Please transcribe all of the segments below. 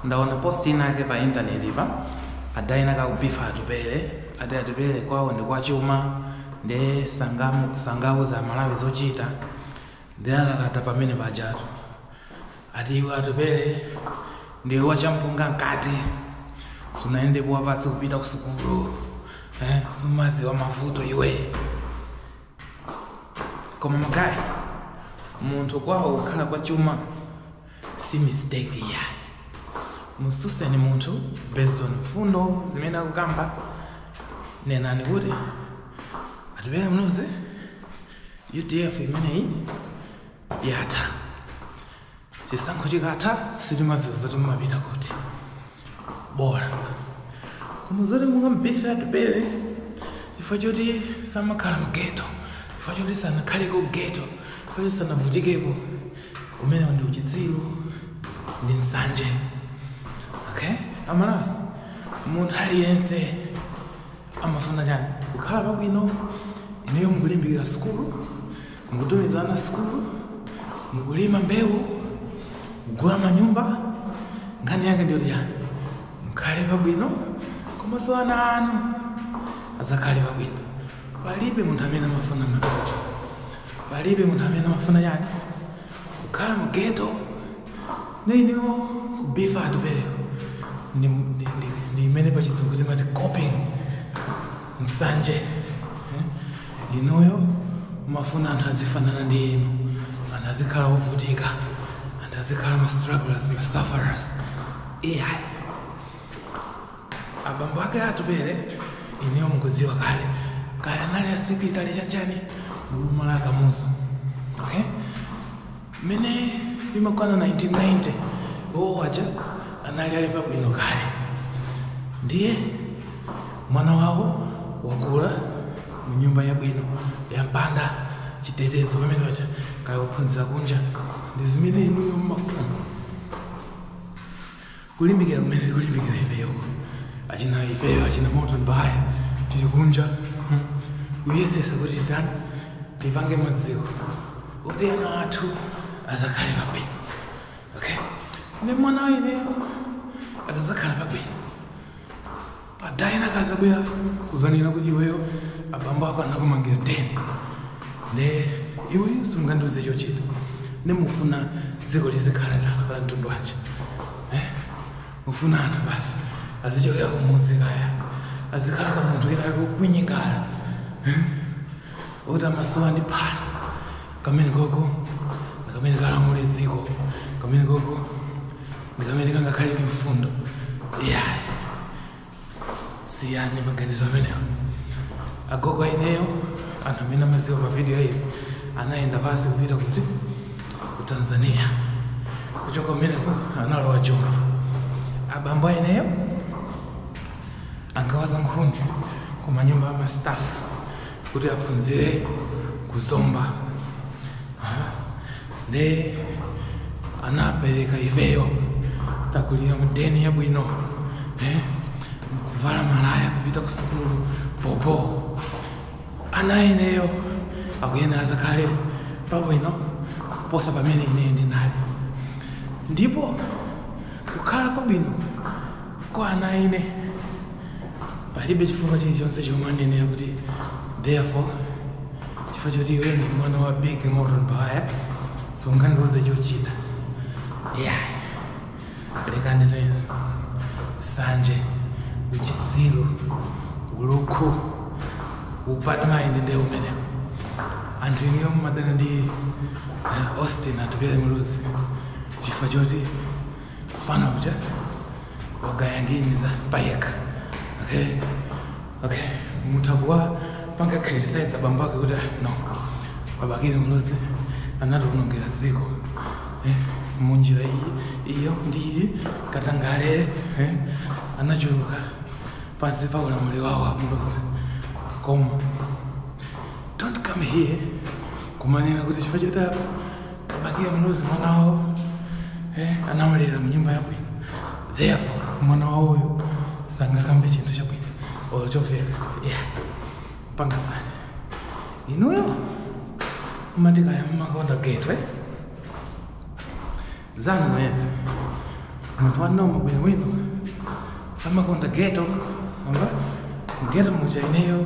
Ndaona post inake pa internet pa ada enaka akubifa Atupele ati Atupele kwawo ndi kwa chuma nde sangauze amalawi zochita nde alalata pamene pajatu ati iwe Atupele ndiwe wa champunga nkati sunayendepo wapasi kupita kusukulu eh, sumaziwa mavuto iwe koma magayi munthu kwawo kukhala kwa chuma si mistake iyayi mususeni munthu based on mfundo zimene akukamba nenani kuti Atupele Muluzi UDF imeneyi yatha chisankho chikatha sitimaziwa zoti mumapita kuti bora koma zoti mukamubife Atupele chifukwa choti samakhala mu ghetto chifukwa choti sanakhale ku ghetto chifukwa choti sanavutikepo umenewo ndi uchitsiru ndi nsanje okay amalawi munthu aliyense amafuna chani kukhala pabwino inuyo mukulimbikira sukulu Mukutumiza ana sukulu, mukulima mbewu, kugula manyumba, nkhani yake ndiyo chani mukhale pabwino komanso ana anu azakhale pabwino. Palibe munthu amene amafuna mavuto, palibe munthu amene amafuna chani kukhala mu ghetto ne inuyo kubifa Atupeleko ndi imene pachizungu timati coping nsanje eh? inuyo mafuna anthu azifanana ndi inu anthu azikhala ovutika anthu azikhala ma strugglers ma sufferers iyayi abambo ake Atupele inuyo mukuziwa kale kaya anali a secretary chanichani mu boma la Kamuzu okay Mmene imakwana 1990 iwowo aja anali ali pabwino kale, ndiye mwana wawo wakula mu nyumba yabwino yampanda chitetezo pamene paja kaya kuphunzira kunja ndi zimene inuyo mmafuna. kulimbikira kumene tikulimbikira ifeyo achina ifeyo achina Morton Baghaya tili kunja hmm, kuyesesa kuti titani tipange maziko kuti ana athu azakhale pabwino okay ne mwana wa ineyo akazakhala pabwino Pa ada ena akazabwera kuzanena kuti iweyo abambo ako anakumangira den nde iweyo sungandiuze chochita nde mufuna dziko lizikhala la la mtundu wanji eh? mufuna anthu basi azichokera kumudzi kaya azikhala kwa munthu wina wake kwinyingala eh? oti amasowa ndi phala Kamene koko ndi kamene kazalamule dziko. Kamene koko ndi kamene kangakhale ndi mfundo. Iyayi. Siyani maganizo amenewo. Agogo a ineyo anthu amene amadziwa pa video iyi anayenda pansi kupita kuti ku Tanzania. Kuchoka kumeneko analowa Joni. Abambo a ineyo ankawaza nkhuni ku manyumba a mastafu kuti aphunzire ku Zomba Aha. nde anapereka ifeyo takulira mudeni yabwino eh? kuvala malaya kupita ku sukulu popo ana a ineyo akuyenera azakhale pabwino kuposa pamene ineyo ndinali ndipo kukhala kwabwino kwa ana a ine palibe chifukwa chilichonse chomwe chinenera kuti therefore chifukwa choti iwe ndi mwana wa big moto mpaya sungandiuze chochita yeah lekani zimenezo sanje uchitsiru ulukhu ubad mind ndi umenewo anthu inuyo mumadana ndi eh, austin Atupele Muluzi chifukwa choti mfana uja akayanganiza payekha okay okay mutha kuwapanga criticize abambo ake kuti "Ah, no ba Bakili Muluzi anatiwonongera dziko eh, munjira iyo ndi iyi katangale eh, anachuluka pansi pa ulamuliro wawo a Muluzi koma don't come here kumanena kuti chifukwa choti ba Bakili Muluzi mwana wawo eh, anamulera munyumba yabwino therefore mwana wawoyo sangakambe chinthu chabwino or chomveka yeah. panga sanje inuyo mmati kaya mmakonda ghetto eh? zanu zimenezo munthu wa normal bwinobwino samakonda ghetto amba ghetto muja ineyo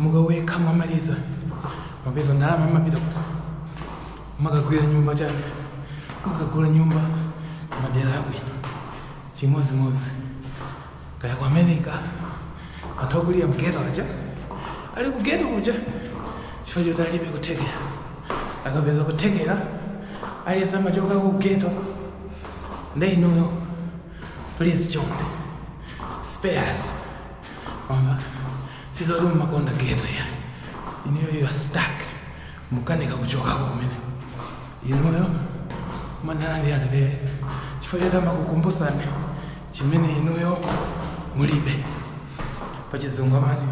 mukawerka mwamaliza mwapeza ndalama mmapita kuti mmakagula nyumba chani mmakagula nyumba madera abwino chimodzimodzi kaya ku America anthu akulira mghetto aja ali ku ghetto kuja chifukwa choti alibe kuthekera akapeza kuthekera aliyense amachoka ku ghetto nde inuyo please chonde spare us Amba sizoti mumakonda ghetto ya. Inuyo you are stuck. Mukukanika kuchokako kumene. Inuyo mumadana ndi Atupele. Chifukwa choti amakukumbusani chimene inuyo mulibe. Pa chizungu amati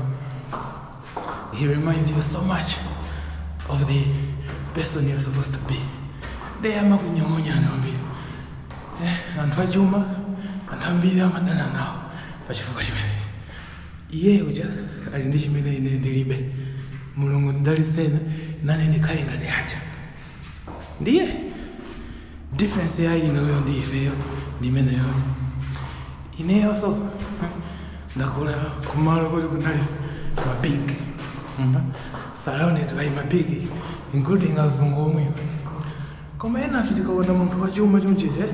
he reminds you so much of the person you're supposed to be. Nde amakunyong'onyani kwambiri. Eh, anthu achuma, anthu ambiri amadana nawo. pa chifukwa chimenechi iye uja ali ndi chimene ine ndilibe mulungu ndidalitseni nane ndikhale ngati aja ndiye difference ya inuyo ndi ifeyo ndi imeneyo ineyonso hmm, ndakula kumalo koti kunali mabig surrounded by mabig including azungu omwe koma ena ife tikaona munthu wachuma chonchija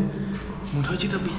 munthu wachita bwino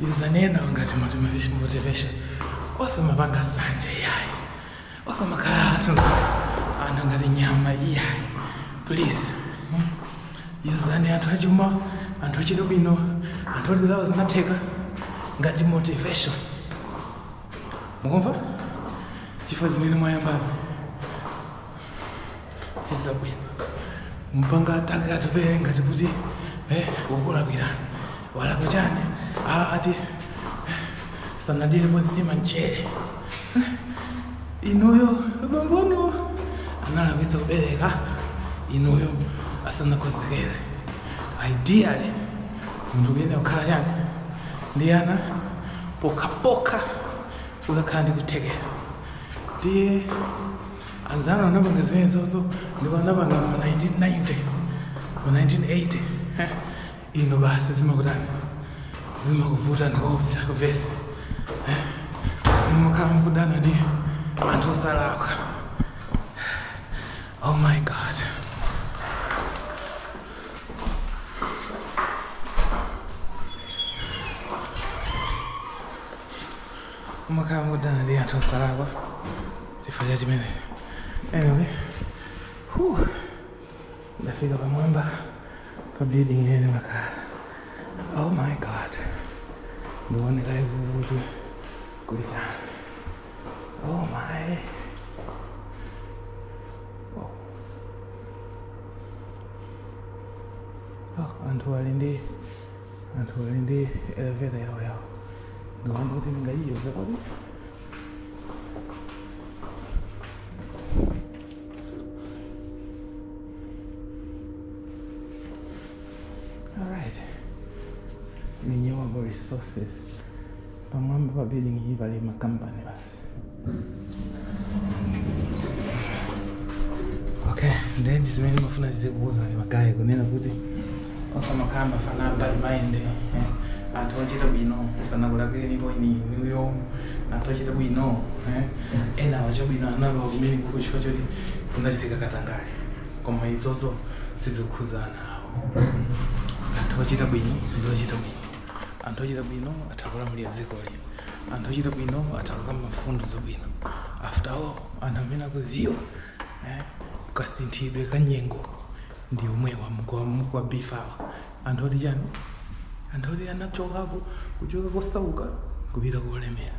Yuzani enawa ngati motivation. osamapanga nsanje iyayi osamakhala anthu anthu ngati nyama iyayi please mm. yuzani anthu achuma anthu achita bwino anthu oti zawo zinatheka ngati motivation mukumva chifukwa zimene mwayambazi sizabwino kumpanga attack Atupele ngati kuti eh, wakulakwira walakwa chani Ah, ati eh, sanadyere nsima mchere Eh, inuyo bambo anu analakwitsa kubereka inuyo asanakonzekere ideally munthu kuyenera kukhala chani ndi ana pokhapokha ukakhala ndi kuthekera ndiye Anzawo anapanga zimenezo ndipo anapanga mu 1990 mu 1980 eh, ino basi zimakutani zimakuvuta ndikuopsa kuvesi eh, mumakhala mukudana ndi anthu osalakwa oh my god Mumakhala mukudana ndi anthu osalakwa chifukwa cha chimene. Anyway, whew, ndafika pamwamba pa building imene ndimakhala. Oh my god. Ndione kaye kuti kuli chani. Oh my. Oh. Oh, anthu ali ndi anthu ali ndi eleveta yawo yawo ndikuona kuti ndingayiyuze kodi alright renewable resources pamwamba pa building iyi pali makampani basi Okay, ndiye ndi zimene ndimafuna ndizikuwuzani magayi kunena kuti osamakhala mafana a bad mind eh, anthu ochita bwino sanakulakwireni inuyo anthu ochita bwino eh, ena ochita bwino analowa kumenekuko chifukwa choti kunachitika katangale koma izozo sizikukhuzana nawo anthu ochita bwino ndi ochita bwino anthu ochita bwino atha kulamulira dzikoli anthu ochita bwino atha kukamba mfundo zabwino after all anthu amene akuziwa eh, kasinthidwe ka nyengo ndi omwewa mukuwabifawa anthu oti chani anthu oti anachokapo kuchoka kosauka kupita kolemera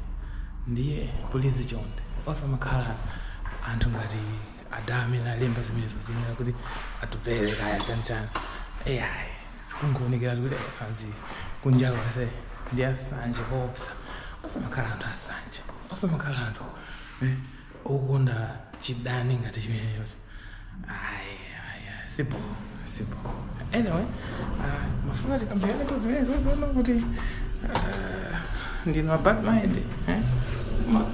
ndiye pulizi chonde osamakhala anthu ngati ada amene alemba zimenezo zimene kuti Atupele kaya chanchani ayi Zikungoonekera kuti afanzi kunjaku ase ndi asanje koopsa. Osamakhala anthu asanje. Osamakhala anthu eh, okonda chidani ngati chimenecho. Ayi, ayi, ayi, sibho, sibho. Anyway, ah, mafuna tikambirane pa zimenezo zonena kuti ah, ndinu a bad mind eh? Ma-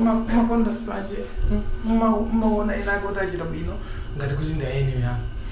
ma- makonda sanje mmaona ena ake kuti achita bwino ngati kuti ndi adani anu